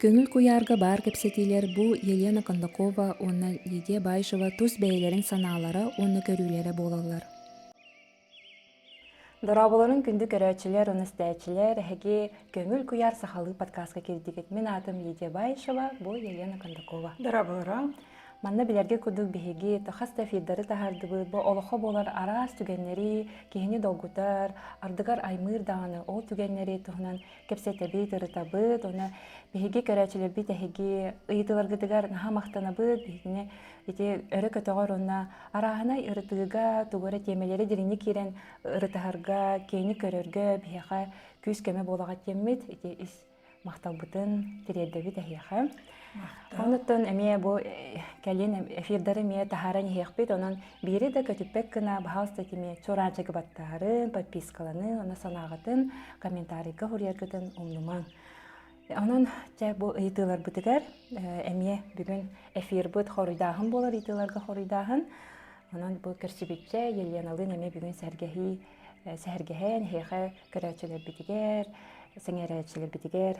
Көҥүл куйаарга баар кэпсэтиилэр бу Елена Кондакова уонна Лидия Баишева тус бэйэлэрин санаалара уонна көрүүлэрэ буолаллар. Дорооболорун күндү көрөөччүлэр уонна истээччилэр, эһиги Көҥүл куйаар сахалыы подкастка кирдигит. Мин аатым Лидия Баишева, бу Елена Кондакова. Дорооболоро. Манна билэргэ курдук биһиги хас да эфирдары таһардыбыт, бу олоххо буолар араас түгэннэри киһини долгутар, ардыгар аймыыр даҕаны ол түгэннэри туһунан кэпсэтэбит, ырытабыт, уонна биһиги көрөөччүлэрбит эһиги ыйытыыларгытыгар наһаа махтанабыт, биһигини ити өрө көтөҕөр уонна арааһынай ырытыыга, тугу эрэ тиэмэлэри дириҥник киирэн ырытыһарга, киһини көрөргө биһиэхэ күүс-көмө буолаҕыт диэммит ити ис махталбытын тириэрдэбит эһиэхэ онуттан эмиэ бу э, кэлин эфирдары эмиэ таһааран иһиэхпит онон биири да көтүппэт гына баһаалыста этимиэ чураанчыгы баттаарын подпискаланы она санааҕытын комментарийга уһуруйаргытын умнумаҥ онон чэ бу ыйытыыларбытыгар э, эмиэ бүгүн эфирбыт хоруйдааһын буолар ыйытыыларга хоруйдааһын онон бу көрсүбүтчэ еленалыын эмиэ бүгүн сэргэһии сэһэргэһэн эһиэхэ көрөөччүлэрбитигэр сэҥээрээччилэрбитигэр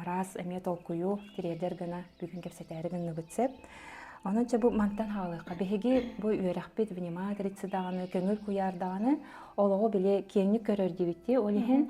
араас эмиэ толкуйу тириэрдэр гына бүгүн кэпсэтээри гынныбыт сөп онончо бу мантан хаалыахха биһиги бу үөрэхпит вниматрици даҕаны көҥүл куйаар даҕаны олоҕу били киэҥник көрөр диэбиттии ол иһин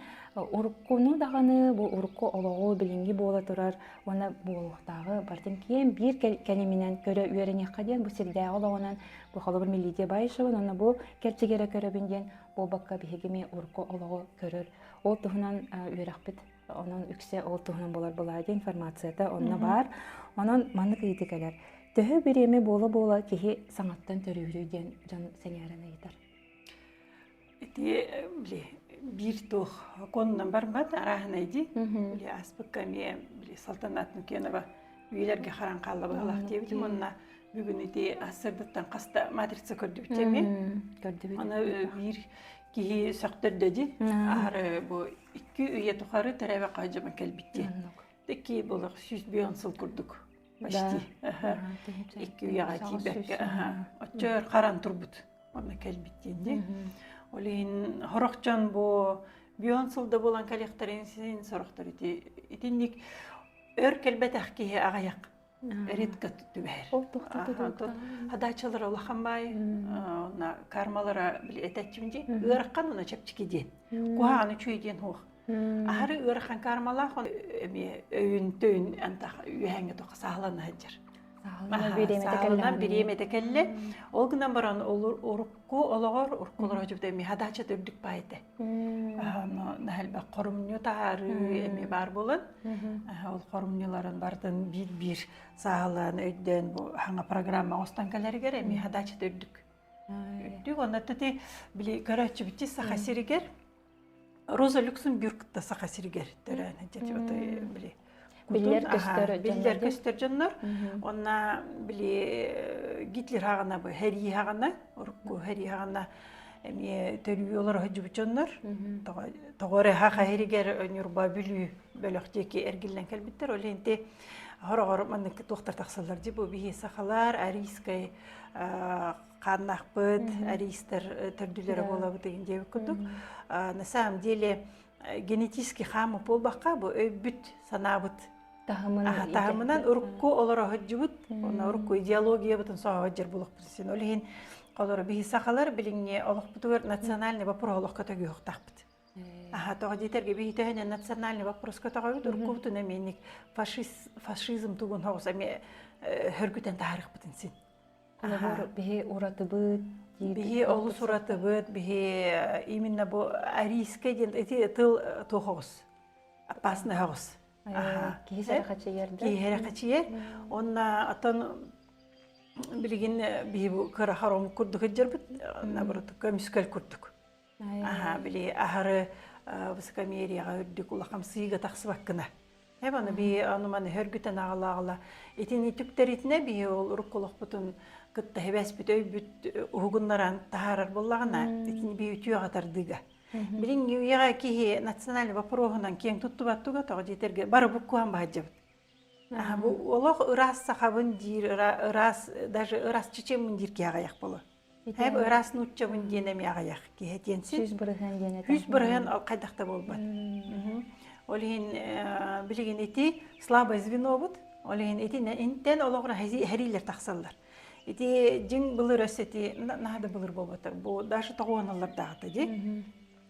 уруккуну даҕаны бу урукку олоҕу билиҥҥи буола турар уонна буолуохтааҕы бартын киэм биир кэлиминэн көрө үөрэниэххэ диэн бу сирдээҕи олоҕунан Похолобур Милидия Баишева, нана бу кэрчигере көрөбүн диэн буобакка биһигими урку олоҕу көрөр. Ол туһунан үөрөхпүт онон үксэ ол туһунан болар былаадия информацията онно бар. Онон маннык ыйыты кэлэр. Төһө бириэми буола-буола киһи саҥаттан төрүүрүй диэн дьон сэҥээрэн ыйытар. ити били биир туох оконунан барбат арааһынай дии били ааспыкка эмиэ били салтанаатын кеново үйэлэргэ харан хаалла быһалаах диэбитим онно бүгүн ити ассырдыттан хаста матрица көрдүбүт эми аны биир киһи сөхтөрдө ди аһары бу икки үйэ тухары тәрәбе хайжама кэлбит ди такки булах сүүс бүйон сыл курдук почти икки үйэҕэ тиийбэккэ оччо харан турбут онно кэлбит диэни ол иһин сорох дьон бу бион сылда буолан кэлиэхтэрин син сорохтор ити итинник өр кэлбэтэх киһи аҕыйах редко түбэһэр ол тохтото хадаачалар улахан бай онна кармалара били этечим ди ыарахан уна чэпчики диэн куһааны чүй диэн хуох Аһары ыар ханкаармалаах эмиэ өйүн-төйүн антах үөһэҥҥэ тоха саалана сыланна саалынан бириэмэтэ кэллэ ол гынан баран урукку олоҕор уруккулара дьубда эми хадаачат үрдүк баайда наһэлбек хорумньу таарыы эми баар болон ол хорумньуларын бартын биир биир саалан өйдөөн бу хаҥа программа оҥостон кэлэригэр эми хадаачат үрдүк үрдүк онно ты били көрөөччүбүтти саха сиригер Роза Люксембург да Саха сиригэр төрөөн эти били биллэр көстөр биллэр көстөр дьоннор онна били Гитлер хаҕана бу хэрии хаҕана урукку хэрии хаҕана эмиэ төрүү олорох жубут дьоннор тоҕо эрэ ха хаһиригер ньурба бүлүү бөлөх диэки эргиллэн кэлбиттэр ол инти хороҕор маннык туохтар тахсаллар дии бу биһи сахалар арийскай хааннаахпыт аристар төрдүлэрэ буолабыт диэбит курдук на самом деле генетический хаама буолбакка бу өйбүт санаабыт таһымынан урукку олороһоджубут уна урукку идеологиябытын соһоджер булукпут син ол иһин олоро биһи сахалар билиҥҥи олохпутугар национальный вопрос олохко төгүөхтахпыт аха тоҕо диэтэргэ биһи төһөнөн национальный вопроска тоҕобут уруккубутун эменник фашизм тугун хоҕус эми хөргүтэн таһарыхпытын син Набор биһи уратыбыт биһи олус уратыбыт биһи именно бу арийскай диэн эти тыл туохоҕус опасный хоҕус киһи сэрхачыйар да киһи сэрхачыйар онна оттон билигин биһи бу кыра хором курдук ыддьарбыт наборутукка мүскөл курдук аха били аһары высокомерияҕа үрдүк улахан сыыга тахсыбаккына эб аны би ону маны хөргүтэн аҕалааҕала итин үтүктэритинэ би ол урукку олохпутун кытта хибэспит өйбүт уһугуннаран таһаарар буллаҕына итини би үтүөҕэ тардыыга билиҥҥи үйэҕэ киһи национальный вопроһунан киэҥ туттубат туга тоҕо диэтэргэ бары буккуһан баһадьабыт олох ыраас сахабын диир ыраас даже ырасчычымын диир киһи аҕыйах болу Эб ыраас нууччабын диэн эми аҕыйах киһи диэн сис бырыһыан диэн этэ сис бырыһыан ол хайдах да буолбат ол иһин билигин ити слабое звенобут ол иһин ити интен олоҕура хәрилер тахсаллар ити дьиҥ былыр өс эти наһада былыр буолбата бу даже тоҕуоналлар даахта ди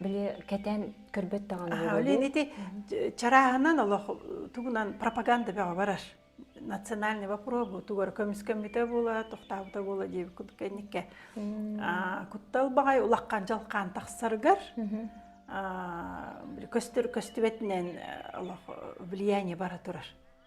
били кэтэн көрбөт даҕаны олин ити чарааһынан олох тугунан пропаганда бөҕө барар национальный вопрос бу тугар көмүскэммитэ була тохтаабыта буола дии кэнникке куттал баҕай улахан жалқаан тахсаргар көстүбэтинэн олох влияние бара турар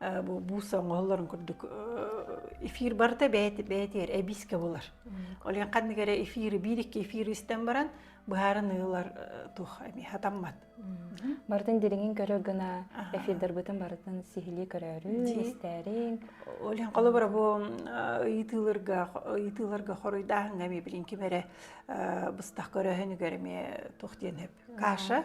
бу бууса оҥоһулларын курдук эфир барыта бэйэтэ бэйэтигэр эбиискэ булар ол иһин ханнык эрэ эфиры биир икки эфир истэн баран быһааран ыылар туох эмиэ хатаммат барытын дириҥин көрө гына эфирдарбытын барытын сиһилии көрөөрү истээриҥ ол иһин холобура бу ыйытыыларга ыйытыыларга хоруйдааһыҥҥа эмиэ билин ким эрэ быстах көрөөһүнүгэр эмиэ туох диэн каша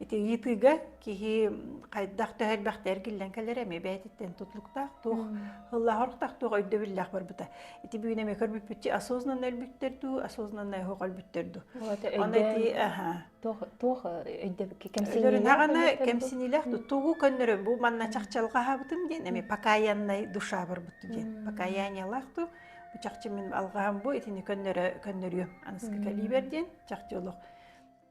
Ити ыйытыыга киһи хайдах төһө элбэхтэ эргиллэн кэлэрэ эмиэ бэйэтиттэн тутулуктаах туох ыллаах орохтоох туох өйдөбүллээх барбыта. Ити бүгүн эмиэ көрбүппүтчү осознанно өлбүттэр дуу, осознанно оһох өлбүттэр дуу. Оны ити аха. Туох туох өйдөбүл кэмсиниилээх кэмсиниилээх ту тугу көннөрө бу манна чахчалҕаһабытын диэн эми покаяннай душа барбыт диэн. Покаяниялаах ту бу чахчы мин алгаам бу итини көннөрө көннөрүөм аныска кэлибер диэн чахчы олох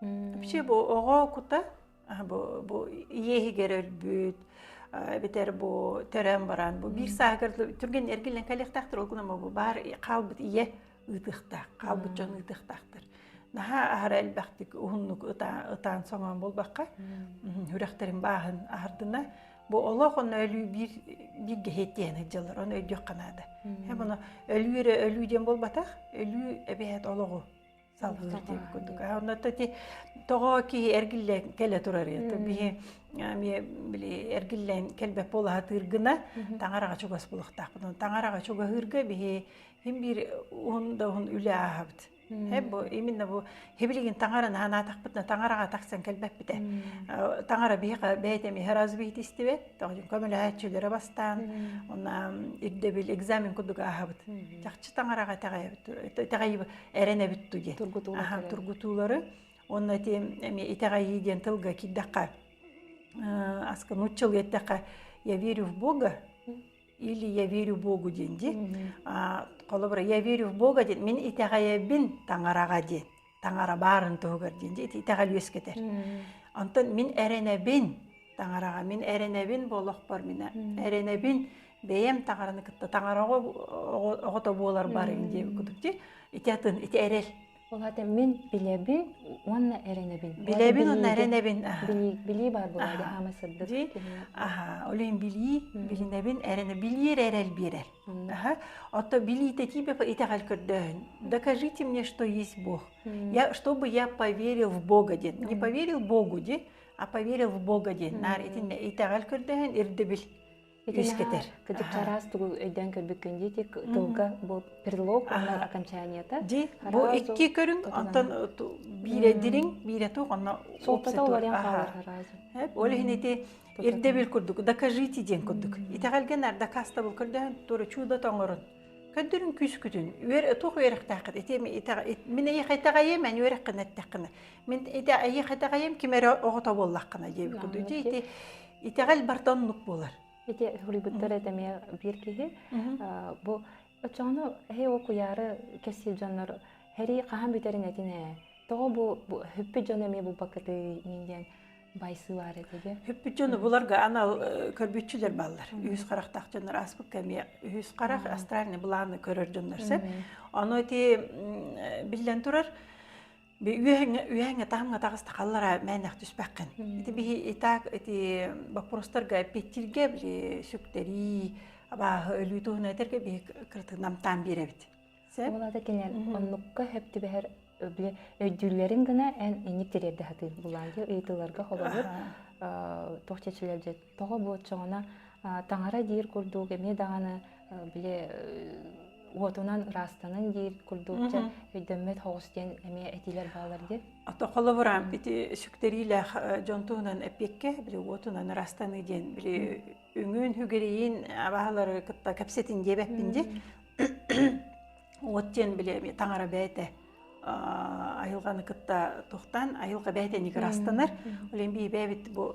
Вообще бу оҕо кута бу бу иэһигэр өлбүт эбэтэр бу төрөөн баран бу биир сааһыгар түргэн эргиллэн кэлиэхтээхтэр ол күнэ бу баар хаалбыт ийэ ыытыахтаах хаалбыт дьон ыытыахтаахтар наһаа аһара элбэхтик уһуннук ытаан ытаан соҥоон буолбакка үрэхтэрин бааһын аһардына бу олох онно өлүү биир биир гэһиэтиэһин ыдьалар оны өйдүөх канаада бұны өлүү эрэ өлүү диэн буолбатах өлүү эбэһэт олоҕу салгыы диэн курдук онно то ити тоҕо киһи эргиллэн кэлэ турарыйа то биһи эмиэ били эргиллэн кэлбэт буолаһатыыр гына таҥараҕа чугас булуохтаахпыт таҥараҕа чугаһыырга биһи им биир уһун да уһун үлэ ааһабыт Хэ бу именно бу хибилигин таҥараны анаатахпытына таҥараҕа тахсан кэлбэппитэ таҥара биһиэхэ бэйэтэ эмиэ раз биһит истибэт тоҕо көмөлөһөөччүлэрэ бастаан онна ирдэбил экзамен курдук ааһабыт чахчы таҥараҕа тэҕэйэбит тэҕэйи эрэнэбит туди тургутуулары онно ти итэҕэйии диэн тылга киирдэххэ аска нуччал еттэхэ я верю в бога или я верю богу диэн ди холобура я верю в бога диэн мин итэҕэйэбин таҥараҕа диэн таҥара баарын туһугар диэн ди итэҕэл үөскэтэр онтон мин эрэнэбин таҥараҕа мин эрэнэбин болохпор мин эрэнэбин бэйэм таҥараны кытта таҥара оҕото буолар барым дии кутукти ити атын ити эрэл Улаатым мин билэбин уонна эрэнэбин. Билэбин уонна эрэнэбин. Билии баар буолар хаама сырдык. Ди, аха, олен билии, билинэбин эрэнэ билиэр эрэл биэрэр. Аха, отто билиите тебе итэҕэл көрдөһүн. Докажите мне, что есть Бог. Я, чтобы я поверил в Бога дин. Не поверил Богу ди, а поверил в Бога дин. Нар итинне итэҕэл көрдөһүн ирдебил. үгүс кэтэр кытык араас тугу өйдөөн көрбүккүн диэти тылга бу предлог уонна окончаниета ди бу икки көрүҥ онтон биирэ дириҥ биирэ туох онно суолтата олориан хаалар ол иһин ити ирдэбил курдук докажите диэн курдук итэҕэлген арда кастабыл көрдөһөн тура чудо тоңорун көндүрүн күскүтүн үөр туох үөрэхтээххит ити мин эйэхэтэҕэйим эн үөрэххин эттэххинэ мин ити эйэхэтэҕэйим ким эрэ оҕото буоллаххына диэбит курдук ити Итэҕэл барта оннук буолар. Ити суруйбуттар этэ эмиэ биир киһи бу оччоҕуна эһи ол куйаары кэсиир дьоннор хэрии хаһан бүтэрин этин ээ тоҕо бу хүппүт дьоно эмиэ булбакытый мин диэн байсыылар этиге хүппүт дьону буларга анал көрбүтчүлэр баллар үһүс харахтаах дьоннор ааспыкка эмиэ үһүс харах астральный былааны көрөр дьоннор сеп ону ити биллэн турар би үөһэҥҥэ үөһэҥҥэ таһымҥа таҕыстахаллара мээнэх түспэххин. Ити биһи итак ити боппуруостарга эппиэттииргэ били сүктэрии, абааһы өлүү туһунан этэргэ биһи кырытын намтаан биэрэбит. Сеп? Ол ата кэнэн оннукка хөп түбэһэр өйдүүллэрин гына эн эник тириэрдэ хатыы булаайы ыйытыыларга холобур туох чечилэлжет Тоҕо бу оччоҕуна таҥара диир курдук эмиэ даҕаны били уотунан ыраастанын диир курдуучча өйдөммөт хоҕус диэн эмиэ этиилэр баалар диэн. Ата холобурам ити сүктэриилээх дьон туһунан эппиэккэ били уотунан ыраастаныы диэн били үҥүн хүгириин абаалары кытта кэпсэтин диэбэппин ди уот диэн били эмиэ таҥара бээтэ айылҕаны кытта тохтан айылҕа бээтэ ник ыраастанар олен бии бэбит бу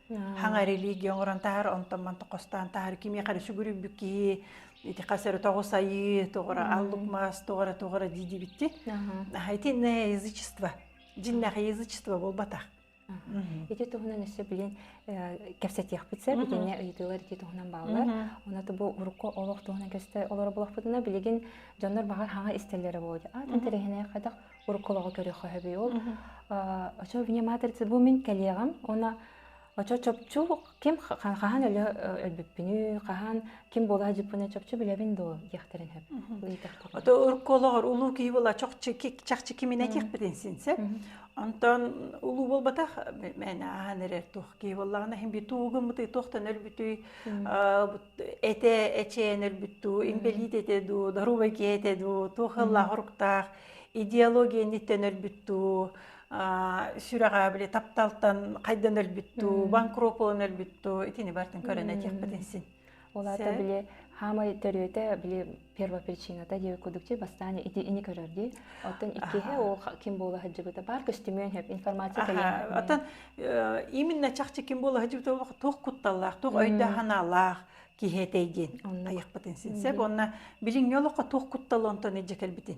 хаҥа религия оҥорон таһар онтон мантан хостаан таһар кимиэхэ эрэ сүгүрүйбүт киһи ити хасары тоҕу сайыы тоҕура аллук маас тоҕура тоҕура диидибитти хайтинное язычество диннэх язычество буолбатах Ити туһунан өссө билин кэпсэтиэхпит сеп, итинне ыйытыылар ити туһунан бааллар. Оны бу урукку олох туһунан көсті олар болохпытына билигин жоннор бағар хаҥа истеллері болды. Атын терехіне қадақ уруккулаҕы көрүөххэ хөбүй ол очо внимательцы бу мин кэлиэҕим она очо чопчу ким хаһан өлө өлбүппүнүй хаһан ким була дьыппына чопчу билэбин доо диэхтэрин хөп ото уруккулаҕар улуу киһи була чахчы кимин этиэхпитин синсеп онтон улуу буолбатах мен ахан эрэр туох киһи боллаҕына хин би туугуммутуй туохтан өлбүтүй Эте эчээн өлбүт дуу, инбэлиит этэ дуу, доруобай киһи этэ дуу, туох ыллаах оруктаах идеология инниттэн өлбүт дуу, сүрэҕэ били тапталтан хайдан өлбүт дуу, банкрот буолан өлбүт дуу, итини бартын көрөн этиэхпитин син. Ол аата били хаамай төрүөтэ били Первая причината девять кудукти бастаан ити ини көрөр ди. Оттон иккиһэ ол ким буола хаджыбыта бар көстүмүөн хөп информация кэлэн. Оттон именно чахчы ким буола хаджыбыта олох туох кутталлаах, туох өйдөһаналаах киһи этэй диэн. Айықпытын синсеп, онна билиҥ олохқа туох куттал онтон эдже кэлбитин.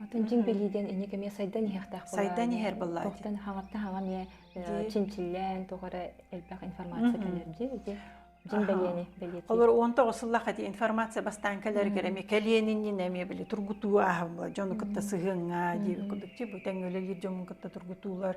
Атын дьиҥ билии диэн инник эмиэ сайдан иһиэхтээх буолаары. Сайдан иһэр буоллаҕа. Тохтон хаҕартан хаҕа эмиэ чинчиллээн туох эрэ элбэх информация кэлэр дии. Дьин бэлиэни бэлиэтиир. Олор 19 сыллаах эти информация бастаан кэлэригэр эмиэ кэлиэниннин эмиэ били тургутуу ааһылла дьону кытта сыһыанга диэбит курдук ти бу тэҥ үлэлиир дьомун кытта тургутуулар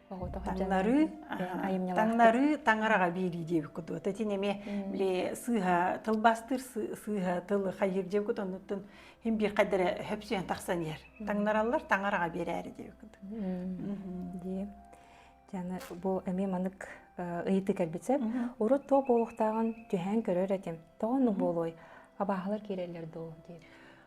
таҥнарыы таҥнарыы таҥараҕа биэрии диэбиккэ дуо тэтин эмиэ били сыыһа тылбастыыр сыыһа тылы хайыыр диэбиккит оннуттун хин биир хайдара хөпсүйэн тахсан иһэр таҥнараллар таҥараҕа биэрээри диэбиккит дии дьаны бу эмиэ манык ыйытыы кэлбит сэп урут туох буолуохтааҕын түһээн көрөр этим тоҕо ну буолуой абааһылар киирэллэр дуу диир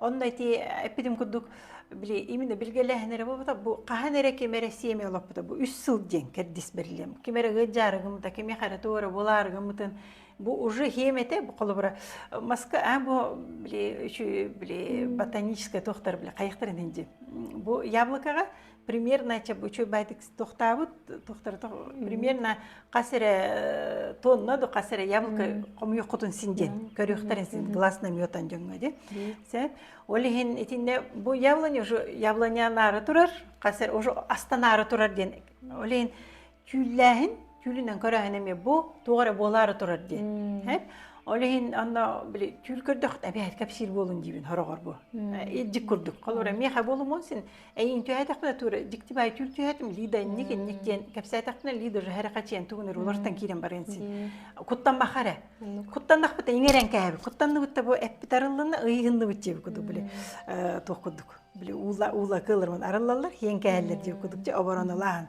Онно ити эппитим курдук, били именно билгэлээһин эрэ буолбута, бу хаһан эрэ ким эрэ сиэми олоппута, бу үс сыл диэн кэрдис бэрилиэм. Ким эрэ ыт дьаарыгымыта, кими хара туора булаарыгымытын, бу уже хиэмэтэ, холобура, маска, а бу били үчү били ботаническая туохтар били хайахтарын инди. Бу яблокаҕа примерно учуйбайтык тохтабыт тохторото примерно хас эрэ э, тонна до хас эрэ яблоко хомуйоххутун син диэн көрүөхтэрин син гласно мётан дьоҥҥо дин сет ол иһин итинне бу яблоня уже яблоня нары турар хас эрэ уже астанары турар диэн ол иһин түүллээһин түүлүнэн көрөөһүн эмиэ бу туох эрэ буолаары турар дии ол иһин анна били түүл көрдөх эбээт кэпсиир буолун диибин хороҕор бу илдик курдук холура миэхэ болумун син эйин түһээтэхпинэ тура диктибай түүл түһээтим лида инник инник диэн кэпсээтэхпинэ лидер хәрэ хачиан тугунер улартан киирэн баран син куттан бахара куттаннахпыта иҥерен кээбит куттанныбыт да бу эппит арыллына ыйыгынныбыт диэбит кудук били туох кудук били уула уула кылырман арыллаллар хиэн кээһэллэр диэбит кудук же обороналаан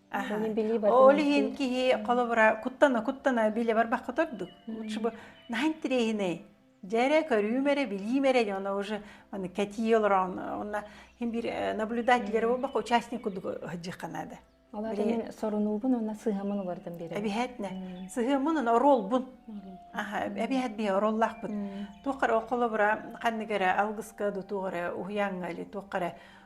Аха. Аны билии бар Ол иһин дьонуттан. киһи холобура куттана-куттана билэ барбакка турдук. Лучше бы наһаа интириэһинэй. Дьэрэ көрүүм эрэ, билиим эрэ дьоно уже аны кэтии олорон уонна һин бир э, наблюдатель буолбакка участник курдук ыһдьыхха наада. Ол аата Бери мин сорунуубун уонна сыһыамын уларытан биэрэбин. Эбиһэтне. Сыһыаммын уонна оруолбун. Аха, эбиһэт биһи оруоллаахпыт. Туоххара холобура ханнык эрэ алгыска до туохара уһуяҥҥа или туоххара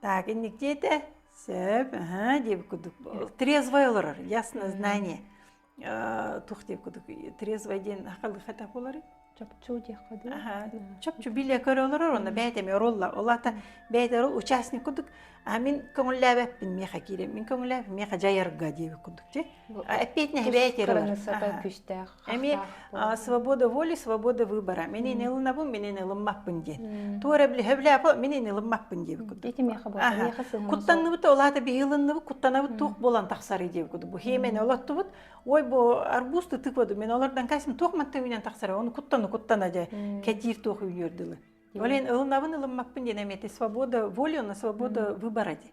Так, инниктиэте сөп, аһа диэбит курдук трезвой олорор яснознание тух диэбит курдук трезвой диэн хатах болары чопчу диэххэ дуу аха чопчу биле көрө олорор онно бэйэтэ эмиэ оролла олата бэйэтэ орол участник курдук а мин көҥүллээбэппин миэхэ киирэн мин көҥүллээбэм миэхэ дьайарга диэбит курдук же Опять не кыраныссата күстээх эмиэ свобода воли свобода выбора менин ылынабын менин ылыммаппын диэн туора блиһевляпо менин ылыммаппын диэбит куту куттанныбыт олаата биһилынныбыт куттанабыт туох болан тахсары диэбит куту бу хиэмен олоттубут ой бу арбузты тыкваду мен олордан кайсым туох манты менен тахсары оны куттану куттана же кэтиир туох үйлөрдүлы олен ылынабын ылыммаппын диэн эмиэте свобода воли на свобода выбора ди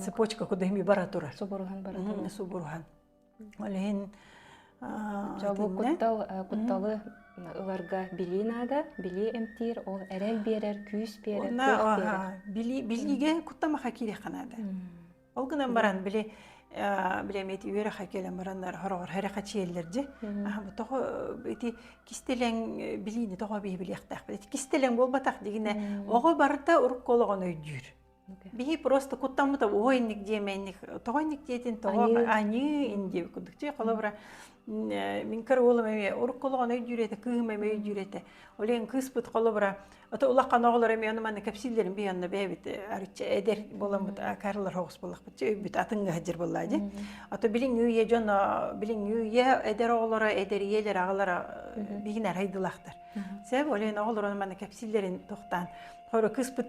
цепочка куда ми бара турар субурухан бара турар субурухан олен жабу куттал кутталы ыларга билии наада билии эмтиир ол эрэл биэрэр күүс биэрэр билиге куттамаха кииреханада Ол гынан баран били билэмиэт үөрэхэ келен бараннар хороҕор хэрэхэ чиэллерди аһама тоҕо ити кистелең билиини тоҕо биһи билиэхтээх кистелең буолбатах дигине оҕо барыта урукку олоҕун өйдүүр биһи просто куттаммыта ой инник диэмэнник тоҕо инник диэтин тоҕо аньыы инди курдук ти холобура мин караулым эмиэ урукку олоҕун өйдүүрэтэ кыыһым эмиэ өйдүүрэтэ ол иһин кыыспыт холобура ото улахан оҕолор эмиэ аны манна кэпсииллэрин бий онно бэйэбит арычча эдэр буоламмыт каралар хоҕус буоллахпытча өйбүт атыҥҥа сылдьар буоллаа дии ото билиҥ үйэ дьоно билиҥ үйэ эдэр оҕолоро эдэрийэлэр аҕалара биһигин арайдылахтар сeb ол иһин оҕолор манна кэпсииллэрин тохтаан хоро кыыспыт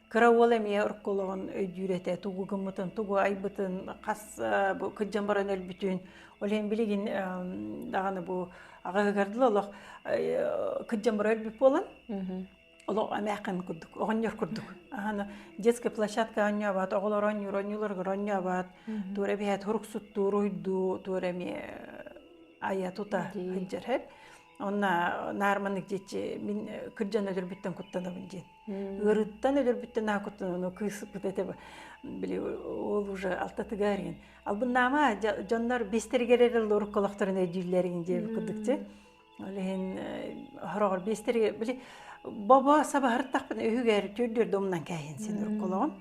Кыра уол эмиэ орколоҕун өйдүүр этэ, тугу гыммытын, тугу айбытын, хас бу кырдьан баран өлбүтүн. Ол иһин билигин даҕаны бу аҕаһыгар дылы олох кырдьан бара өлбүт буолан, олох эмээхин курдук, оҕонньор курдук. Аһана детская площадка оонньообот, оҕолор оонньуур оонньууларыгар оонньообот, туора эбэһээт уруксуттуу, уруһуйдуу, туора эмиэ айа-тута сылдьар. Онно наар маннык диэччи мин кырдьан өлөрбүттэн куттанабын диэн. ыарыыттан өлөрбүттэн аакуттан кыыспыт этэ били ол уже алтатыгар албыннаама дьоннор биэстэригэр эрэ лорукколохторун өйдүүллэрин диэби курдук ти ол иһин хороҕор биэстэри били бобо сабаһыртахпын үһүгэр түүрдүр домунан кээйин син урукколоҕум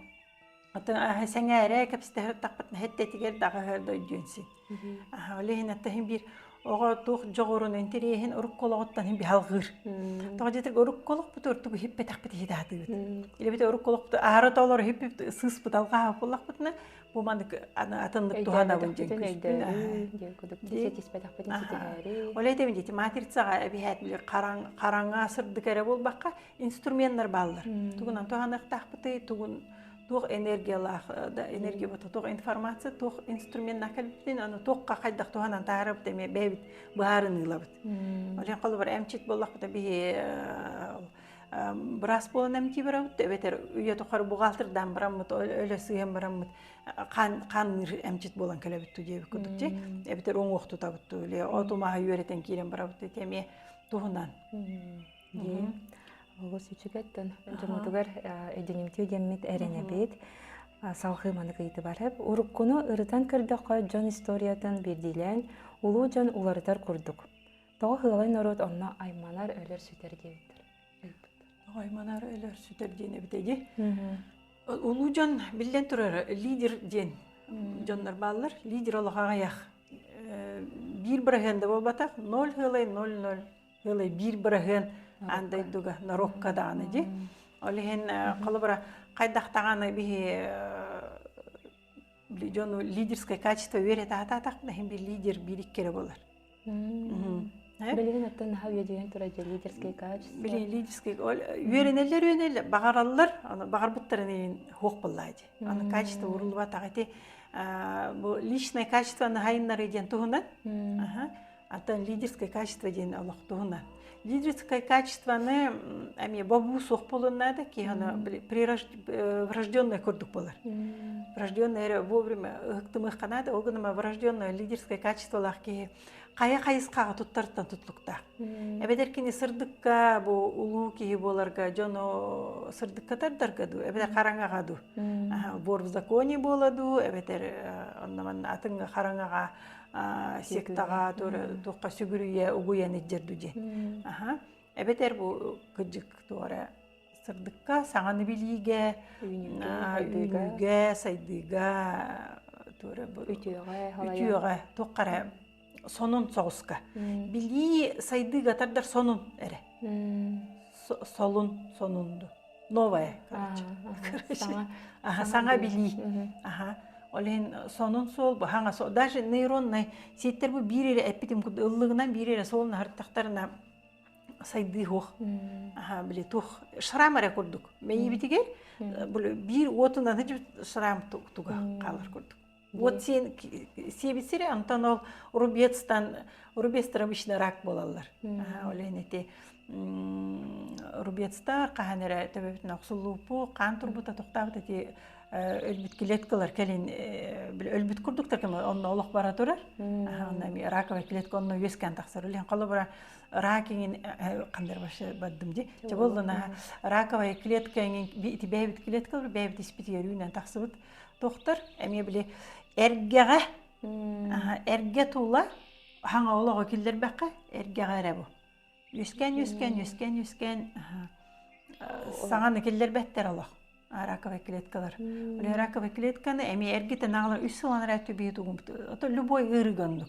Атын аһы сэҥээрэ кэпсэтэхпит нэһиттэтигэр даҕа өһөр дойдуон син. Аха ол иһин аттаһын биир оҕо туох дьоҕурун интэриэһин урукку олоҕуттан иһин биһалҕыыр. Тоҕо дьэтик урукку олохпут ортук иһиппэтэхпит иһитаатыыбыт. Илебит урукку олохпут аары толор иһиппит сыыспыт алҕаһа буллахпытына бу маннык атыннык туһанабын диэн Ол этим дети матрицаға әбіхәт біле қараңа сырдык әрі болбаққа инструменнар бааллар тугунан туһаныахтаахпытый тугун туох энергиялаах э, да энергия бото туох информация туох инструментнаах кэлбитин аны туохха хайдах туһанан таарабыт эми бэйбит баарын ыылабыт олен холобур эмчит боллохпута биһи э, э, бырас болон эмти барабыт эбетер үйө тухары бухгалтердан бараммыт өлө сыйын бараммыт канныыр эмчит болон келебит тудебит кудук же эбетер оңох тутабыт или оту маһы үйөретен кирен барабыт эми туһунан Олус үчүгэттэн дьоҥҥутугар эдьиҥимтиэ диэммит эрэнэбит. Салҕыы маннык ыйытыбарып. Уруккуну ырытан көрдөххө дьон историятын биирдиилээн улуу дьон уларытар курдук. Тоҕо Хыалай норуот онно айманар, өлөр, сүтэр диэбиттэр. Тоҕо айманар, өлөр, сүтэр диэн эбитэ Улуу дьон биллэн турара лидер диэн дьоннор бааллар. Лидер олох аҕыйах. Э, биир быраһыанда буолбатах 0 хыалай 0-0 Ылы биир быраһыан ан дойдуга норуокка дааны ди. Ол иһин холобура хайдах даҕаны биһи дьону лидерское качество үөрэ таатаатах да иһин би лидер биир иккире болар. Билигин оттон наха үйедигин тура же лидерское качество. Билин лидерское үөрэнеллер үөрэнеллер бағараллар, аны бағарбыттарын иин хуох боллаади. Аны качество урулуба тағыти бу личное качество нахайыннары диэн туһунан. атын лидерское качество диэн олох туһуна лидерское качествоны эмиэ бобуу суох буолуннаада киһине врожденное курдук болар врожденное эрэ вовремя ыһыктымыахханаада ол гынан врожденное лидерское качестволаах киһи хайа хайысхаҕа туттартан тутлуктаах эбэтэр кини сырдыкка бу улуу киһи буоларга дьону сырдыкка тардарга дуу эбэтэр хараҥаҕа дуу бор в законе буола дуу эбэтэр онно атын хараҥаҕа сектаҕа туохха сүгүрүйэ угуйан итдерду дии аха эбэтэр бу кыддык туора сырдыкка саҥаны билиигэ үүнүүгэ сайдыыга туора үтүөҕэ туоххара сонун соҕуска билии сайдыыга тардар сонун эрэ солун сонунду новое короче короче саҥа билии аха ол иһин сонун суол бу хаҥас даже нейроннай ситтэр бу биир эрэ эппитим курдук ыллыгынан биир эрэ суол наһартахтарына сайдыы суох аха били туох шрам эрэ курдук мэйиибитигэр биир уотунан шрам туга хаалар курдук Вот сен сиэбиттире онтон ол рубецтан рубецтар обычно рак буолаллар олен эти рубецтар хаһан эрэ төбөбүтүн охсуллуупу хаан турбута токтаабыт эти өлбүт клеткалар кэлин өлбүт курдуктар кем онно олох бара турар онно раковая клетка онно үөскээн тахсар үлен холобура ракиңин кандыр башы бардым ди чаболлана раковая клетка ити бэйбит клеткалар бэйбит испитигэр үүнэн тахсыбыт Тохтор, эмиэ били эргэҕэ эргэ туула хаҥа олоҕо киллэрбэххэ эргэҕэ эрэ бу. Үскэн, үскэн, үскэн, үскэн саҥаны киллэрбэттэр олох раковые клеткалар. Раковые клетканы эми эргитен аҕалар үс сылан эрэ түбие тугум. То любой ырыгыннык.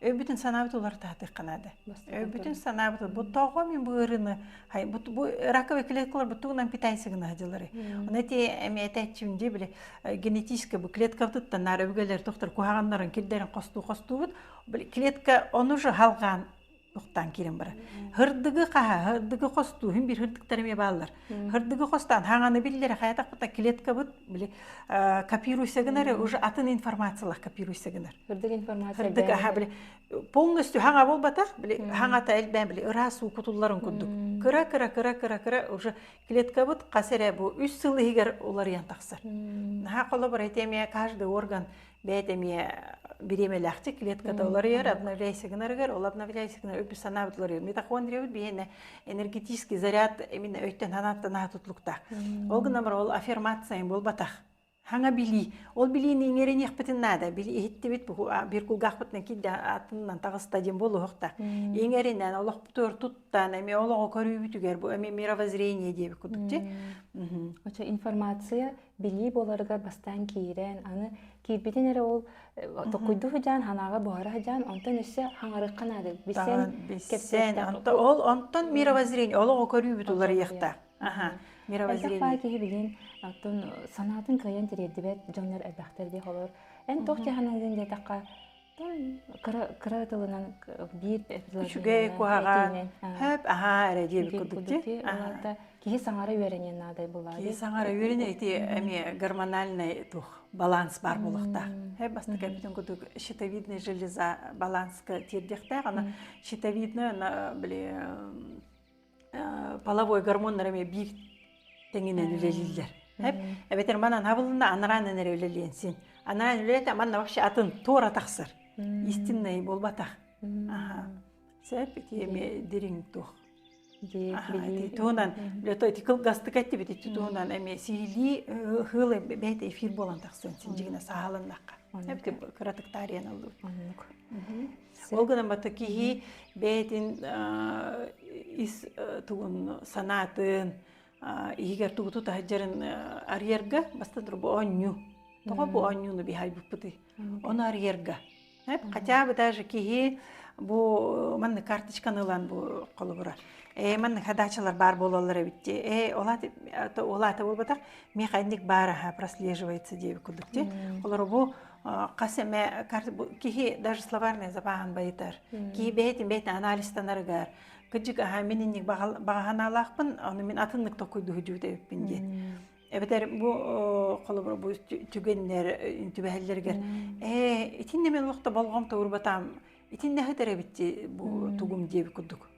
өйбүтүн санаабыт улартаатыахха наада өйбүтүн санаабыт бу тоҕо мин бу ырыны бу раковый клеткалар бу тугунан питань сыгына дьылары оны эти эми этээччим дии били генетически бу клеткабытыттан наар өбүгэлэр тохтор куһаҕаннарын кирдерин хостуу хостуубут клетка оны же халгаан тухтаан кирин бара хырдыгы хаха хырдыгы хостуу хин бир хырдыктары ме бааллар Хырдыгы хостан хаңаны биллерхаятакпыта клеткабыт били копируйса гынар уже атын информациялах копируйса гынар. Хырдык информация. Хырдык аха били полностью хаҥа болбатах били хаҥата элбэн били ырас уу кутулларын курдук. Кыра кыра кыра кыра кыра уже клеткабыт хасере бу 3 сыл иһигэр уларыйан тахсар. Наха коло бары теме каждый орган бэйт эмиэ бириэмэлээхтик клетката уларыйар обновляйся гынарыгар ол обновляйся гынар үп санаабыт уларыйар митохондриябыт биһиэнэ энергетический заряд именно өйтөн санааттанаа тутлуктаах ол гынамар ол аффирмация буолбатах хаҥа билии ол билиини иҥэриниэхпитин наада иһиттибит бир кулгаахпытынан киде атынынан тагыста дин болуохта иҥэринен олох төр туттан эми олого көрүүбүтүгэр бу эми мировоззрение диэбит кудукти очо информация билии буоларыгар бастаан киирэн аны киирбитин эрэ ол токуйду сыдьаан ханааҕа буһара сыдьаан онтон өссө хаҥарыкка наады билсэн ол онтон мировоззрение олоҕу көрүүбүт уларыйыахта мировоззрение киһи билин оттон санаатын кыайан тириэрдибэт дьоннор элбэхтэр диэх олор эн тох дьаһаналыын диэтэххэ кыра тылынан биир үчүгэй куһаҕан хөп аһаа эрэ диэбит курдук дии киһи саҥара үөрэниэн наада былаады киһи саҥара үөрэнэ ити эмиэ гормональнай туох баланс баар буолуохтаах һэ бастакы бүтүн курдук щитовидная железа баланска тиэрдиэхтээх ана щитовидная она били половой гормоннар эмиэ биир тэҥинэн үлэлииллэр. Эбэтэр манан хабылына анараанын эрэ үлэлиэн син. Анараан үлэлэтэ манна вообще атын туора тахсар. Истиннэй буолбатах. Сөп эмиэ дириҥ туох. Туһунан ити кылгастык эттибит иччи туһунан эми сиилии хыл бэйте эфир болан тахсан син жигине сааланнакка. Эбити кыратык таарыйан аллыбыт. Ол гынан бата киһи бэйэтин ис тугун санаатын иһигэр тугуту таһыдьарын арыйарга бастан тура бу оонньуу. Тоҕо бу оонньууну биһайбыппытый? Оны арыйарга. Хотя бы даже киһи бу манна карточканы ылан бу холобура. Э манна хадачалар бар болалар эбитти. Э олаты олаты болбатах механик бар аха прослеживается деве кудукти. Олар бу хас эмэ киһи даже словарнай забааһын байытар киһи бэйэтин бэйэтин анализтанарыгар кыдьык аhaa мин инник баҕаһаналаахпын ону мин атыннык токуйдуһу дьүөтэбиппин диэн эбэтэр бу холобур бу түгэннэр түбэһэллэригэр ээ итиннэ мен олохто болҕом тобурбатаам итиннэхи терэбитти бу тугум диэби курдук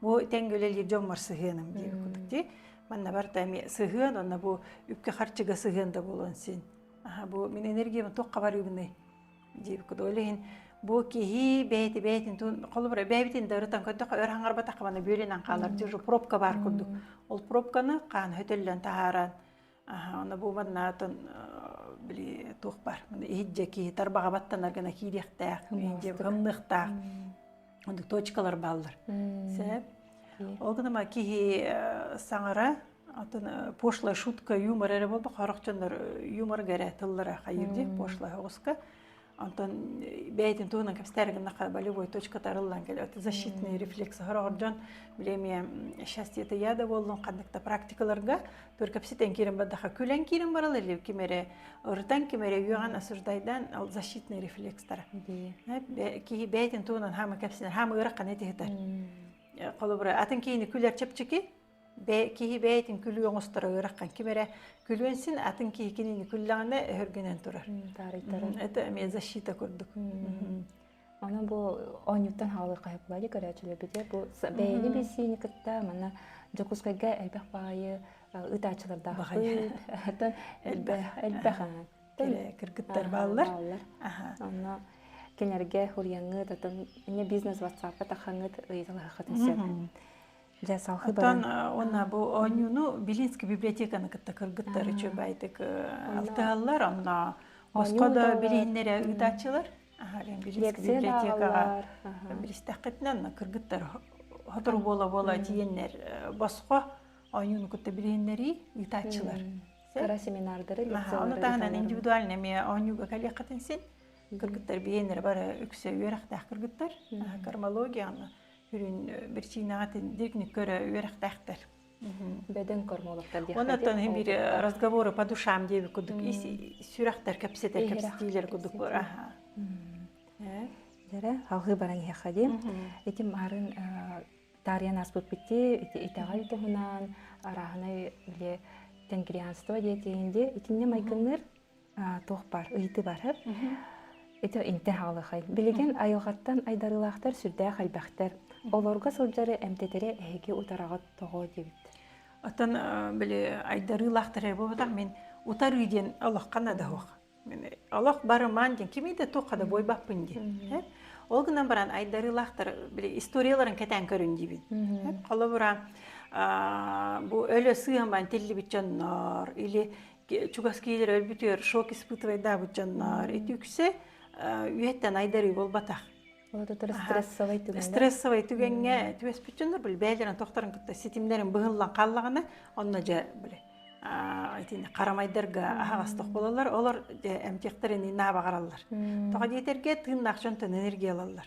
бу тэҥге үлэлиир дьоммор сыһыаным диир кутук ти манна барта эми сыһыан онно бу үпкэ харчыга сыһыан да болон син аха бу мин энергиямын туохха барыыбынай диир кутук олехин бу киһи бэйти бэйтин тун холобура бэйбитин дарытан көттөх өр хаңарбатах мана бүөлен анхалар жу пробка бар курдук ол пробканы kaan хөтөллөн тахаран Она буоманнаатын били туох бар иһитже киһи тарбаҕа баттанар гына киириэхтээх кымныахтаах точкалар бааллар сеп ол гына киһи саҥара атын пошлая шутка юмор эрэ болбох хорохчоннор юмор гэрэ тыллара хайырди пошлая оҕуска Онтон бэйэтин туһунан кэпсэтэр гыннахха болевой точка тарыллан кэлет защитный рефлекс хороҕор дьон биле эмиэ счастье это я да буоллун ханнык да практикаларга төр кэпсэтен кирин бардаха күлэн кирин барал или кимере ырытан кимере үйөҕөн осуждайдан ол защитный рефлекстара киһи бэйэтин туһунан хама кэпсэнер хама ыраққа нетихитер холобура атын киһини күлэр чепчики бэ киһи бэйэтин күлүү оҥосторо ыараххан ким эрэ күлүөн син атын киһи кинини күллэҕинэ өһөргөнөн турар таарыйтаран это защита курдук аны бу оонньууттан хаалыы хайа кулаайы көрөөччүлөрбүтэ бу бэйэни билсиини кытта манна Дьокуускайга элбэх баайы ытааччылардаах ыт элбэх кыргыттар бааллар онно кинилэргэ уруйаҥҥыт атын эмиэ бизнес ватсапка тахаҥҥыт ыйыталаһыаххытын сөп Дьэ, салхы Оттон уонна бу оонньууну Белинский библиотеканы кытта кыргыттар үчүгәйдик алтыһаллар, онно боско да билиһиннэрэ ыытааччылар. Белинский библиотекаға білістэққытынан кыргыттар хотор бола-бола тиеннер боско оонньууну кытта билиһиннерии ыытааччылар. Кара семинардары, лекциялары. Ону тағынан индивидуальный ме оонньууга калиқатын син кыргыттар биеннер бары үксө үөрәқтәх кыргыттар. Кармологияны Сүрүн бирчиинэҕэ дирниккө өрө үөрэхтээхтэр. Бөдөҥ кормологтар диэх Оннотон биир разговору по душам диэби кудук ис сүрэхтэр кэпсэтэр кэпсэтиилэр кудук бара. Дәрэ халыы баран иһэхэ диэн. Итим арын таарыйан аспыт битти итэҕэл туһунан арааһынай биле тенгрианство диэтиин де итинне майгынныр туох бар ыйыты барар ити интэ хаалыхай билигин айылҕаттан айдарыылаахтар сүрдээх элбэхтэр олорго сылдьары эмтэтире эһиги утараҕыт тоҕо диэбит оттон били айдарыылаахтар буолбатах мин утарыы диэн олоххана да хуох олох барыман диэн кимиде туохха да буойбаппын диэн ол гынан баран айдарыылаахтар били историяларын кэтээн көрүн диибин холобура бу өлө сыаман тиллибит дьоннор или чугас киһилэр өлбүтүөр шок испытывайдаабыт дьоннор үтүксе үйэттэн айдарыы буолбатах стрессовай түгэҥҥэ түбэспит дьоннор били бэйэлэрин тохторун кытта ситимнэрин быһыллан хааллаҕына онно дьэ били итини харамайдарга аһаҕастық болалар олор эмтиэхтэрин наабаҕараллар тоҕо диэтэргэ тыыннаах дьонтон энергия ылаллар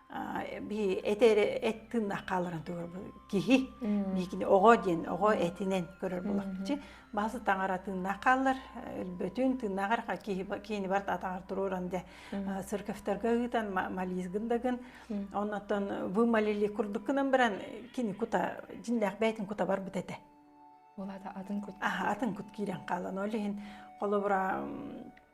эти эт тыыннаах хааларын тугар киһи миикини оҕо диэн оҕо этинен көрөр булахчы баасы таҥара тыыннаах хааллар өлбөтүн тыыннаахар киһини барт атаҕар турууран дэ церковьторга ыытан мализгын дагын оннотон вы малили курдуккунан баран кини кута жиннээх бэйтин кута барбыт этэ атын кут атын кут киирэн хаалан ол иһин холобура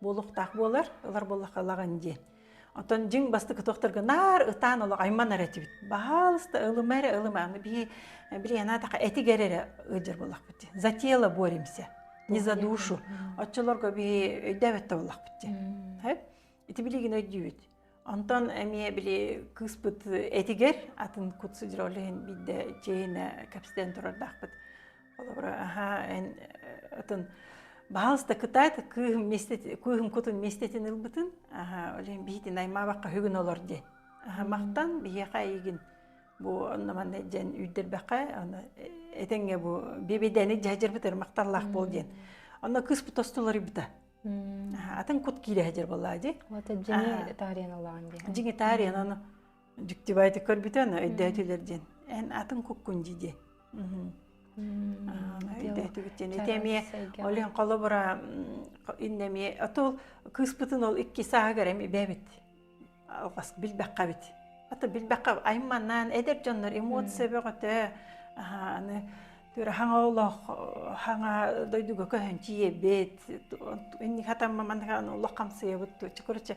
буолуохтаах буолар ылар буоллахалаҕын диэн Отон дьиҥ бастакы туохтарга наар ытаан олох айманар этибит. Баһалыста ылыма эрэ ылыма. Бии билиана таха этигер эрэ ыджыр буллахпыт дии. За тело боремся, не за душу. Отчулорго би өйдөөбөттө буллахпыт дии. Ити билигин өйдүүбүт. Онтон эмиэ били кыыспыт этигэр атын кут сыдьыролиһин биирдэ чиэһинэ кэпсэтэн турардаахпыт. Холобура, аһаа, эн атын баһаалыста кытаат, кыыһым миэстэтин, кыыһым кутун миэстэтин ылбытын, аһаа, олен биһитин аймаабакка хүгүн олор диэн. Аха махтан биһиэхэ эйигин бу онно манна дьэн үүрдэрбэхэ, аны этеңе бу бибидэни дьаһдырбытыр махталлаах бол диэн. Онно кыыспыт остолоруйбута. атын кут киирэ сидер болла ди вот дьиҥи таарыаналаан диэн дьиҥи таарыананы дьиктибайты көрбүтө аны өйдөөтүлэр диэн эн атын куккун ди ди олен холобура иннеми отол кыыспытын ол икки сааһыгар эми бэбит билбэххэ эбит ата билбэххэ айым маннаан эдэр дьоннор эмоция бөҕөтө аны түөрэ хаҥа олох хаҥа дойдуга көһөн тиийэбит инник хатамма манныка олох хамсыйабыт туччу короче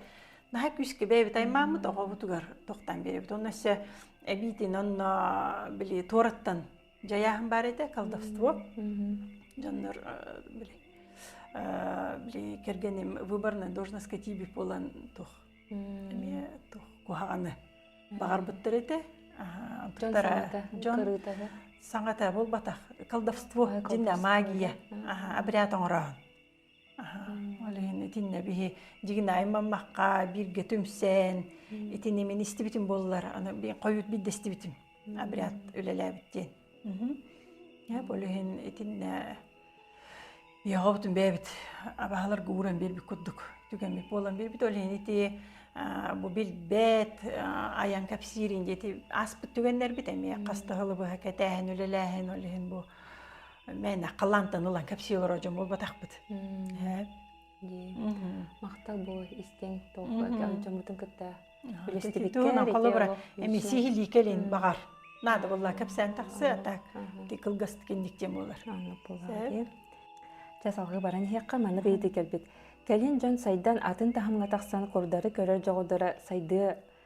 наһаа күүскэ бэйэбит аймааммыт оҕобутугар тохтон биэрэбит онно өссө эбиитин онно били туораттан дьайааһын баар этэ колдовство дьоннор били били кэргэним выборная должностка тебе буолан туох эмиэ туох куһаҕаны баҕарбыттар этэ туттара дьон саҥата буолбатах колдовство дьинэ магия обряд оҥорооһун Ол иһин итиннэ биһи дьигинайым маммакка бииргэ түмсэн итини мин истибитим буоллар аны хойут биддестибитим обряд үлэлээбит диэн. Э ол иһин итиннэ биһоҕобутун бэйэбит абаһаларга ууран биэрбит курдук түгэммит буолан биэрбит ол иһин ити бу билбэт айан кэпсиирин диэти ааспыт түгэннэрбит эмиэ хастаһылы быһа кэтээһин үлэлээһин ол иһин бу мээнэ халаантан ылан кэпсиэ олорор дьон буолбатахпыт махтал бу истиҥ толкуйга дьоммутун кытта холобура эми сиһилии кэлин баҕар наада буолла кэпсээн тахсыа так кылгастык инникте буолар чэ салгыы баран иһиэххэ маны быйыты кэлбит кэлин дьон сайдан атын таһымҥа тахсан курдары көрөр дьоҕурдара сайдыа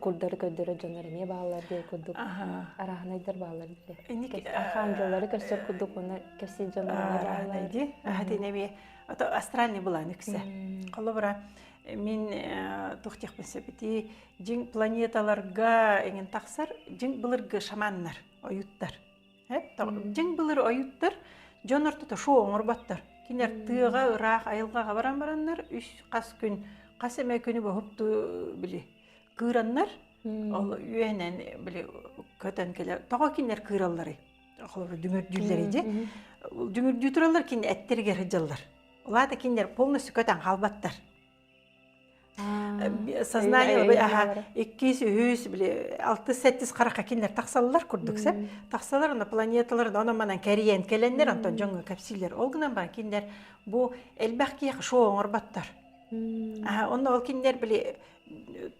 курдары көрдөрөр дьоннор эмиэ бааллар диэн курдук арааһынайдар бааллар диэ архаам дьоллары көрсөр курдук уонна кэрсии дьон бааллар дии хатыны эмиэ ото астральный была нүксе холобура мин тух диэхпин сөбүтүй дьиҥ планеталарга эҥин тахсар дьиҥ былыргы шаманнар ойуттар дьиҥ былыр ойуттар дьон ортото шоу оҥорботтор. Кинилэр тыаҕа ыраах айылҕаҕа баран бараннар үс хас күн хас эмэ күнү боһутту били кыыраннар ол үөнэн били көтөн кэлэ тоҕо кинилэр кыыралларый холобур дүҥүрдүүллэрий дьэ дүҥүрдүү тураллар кини эттэригэр сылдьаллар улаата кинилэр полностью көтөн хаалбаттар сознание бу аха иккис үһүс били алтыс сэттис харахха кинилэр тахсаллар курдук сеп тахсалар она планеталар да манан кэрийэн келеннер антон дьоҥҥо кэпсиилер ол гынан бар кинилэр бу элбэх киэх шоу оҥорботтор онно ол кинилэр били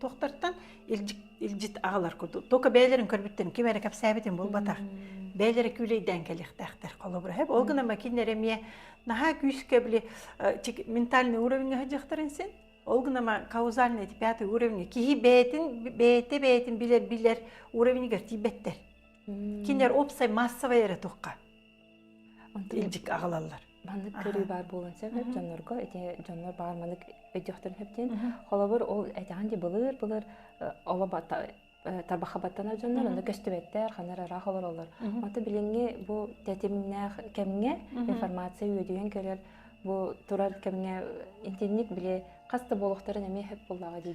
Тохтартан илдьит агалар курдук. Только бэйлерин көрбүттен ким эрэ кэпсээбитин булбатах. Бэйлери күүлейден кэлиэхтээхтер холобура. Ол гына макиннер эмиэ наһаа күүскэ били ментальный уровеньга дьахтарын син. Ол гына каузальный пятый уровень киһи бэйтин бэйте бэйтин билер билер уровеньгар тиийбэттэр. Кинер опсай массовый эрэ тухха. Онто илдьик аҕалаллар. Маннык көрүү баар буолан сөп дьоннорго, ити дьоннор баар маннык өйдөхтөрүн сөптен. Холобур, ол этэҕин ди былыр-былыр оло тарбахабаттанар дьоннор аны көстүбэттэр ханар ыраах олороллор. Онто билиҥҥи бу тэтимнээх кэмҥэ информация үөдүйэн көрөр бу турар кэмҥэ итинник били хас да буолуохтарын эмиэ сөп буллаҕа дии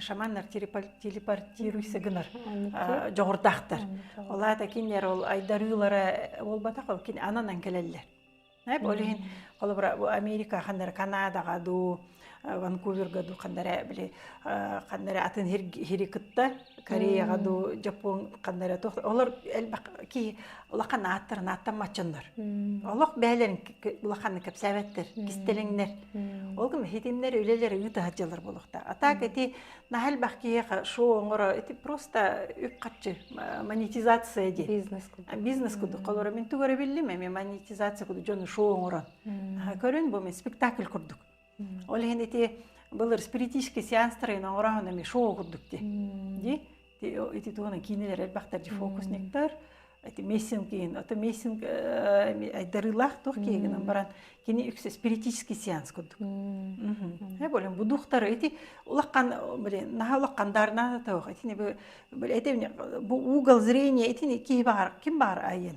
шаманнар телепортируйса гынар дьоҕурдаахтар ол аата кинилэр ол айдарыылара буолбатах кини ананан кэлэллэр ол иһин холобура бу америка хандары канадаға дуу ванкуверга дуу хандары били хандары атын сири кытта Кореяҕа дуу, Жапон ханна эрэ туох олор элбэх киһи улахан ааттарын ааттамматчыннар. Олох бэйэлэрин улаханнык кэпсээбэттэр, кистэлэҥнэр. Ол гын хитимнэр үлэлэр ыытаһа дьылар болохта. А так эти наһа элбэх киһиэхэ шоу оҥоро, эти просто үп-харчы монетизация диэн. Бизнес кудук. Бизнес кудук. Холоро мин тугара биллим эми монетизация кудук дьону шоу оҥорон. Көрөн бу мен спектакль курдук. Ол иһин ити былыр спиритический сеанстарын оҥороһунами шоу курдук ти ди ити тугуна киинилэр элбэхтэр же фокусниктар эти мессин киин ото мессин айдарыылаах туох киэгинэн баран кини үксэ спиритический сеанс курдук болен бу духтары эти улакхан блин наха улакхан дарнана тоох этини бу эти бу угол зрения этини киһи баар ким баар айен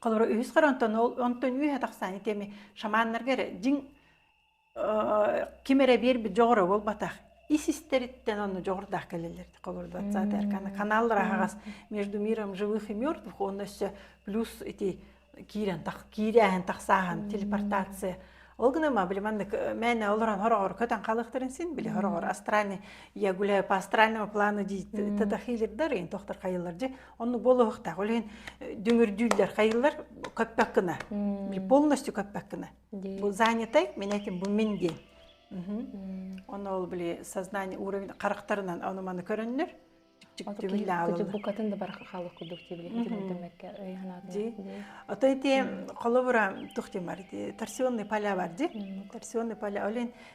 Холоро үһүс хар онтон ол онтон үһэ тахсааны тиэми шаманнарга эрэ дьиҥ ким эрэ биэрбит дьоҕура буолбатах ис-истэриттэн ону дьоҕурдаах кэлэллэр холордоотсаат эрканы каналлар аһаҕас между миром живых и мертвых онно өссө плюс ити киирэн тах киирээһин тахсааһын телепортация ол гына ма били маннык мээнэ олорон хороҕор көтөн халыктарын син били хороҕор астральный я гуляю по астральному плану дии тадахилирдар ин тохтор хайыллар же Онну болуохтаах. Ол иһин дүҥүрдүүллэр, хайылар көппөккүнэ. Полностью көппөккүнэ. Бу занятай, мен этим, бу мин диэн. Ону ол били сознание уровень характарынан ону маны көрөннөр букатын да бар халық кудук тибиле демекке ыйханады ото ити холобура тухтимар торсионный поля бар ди торсионный поля олен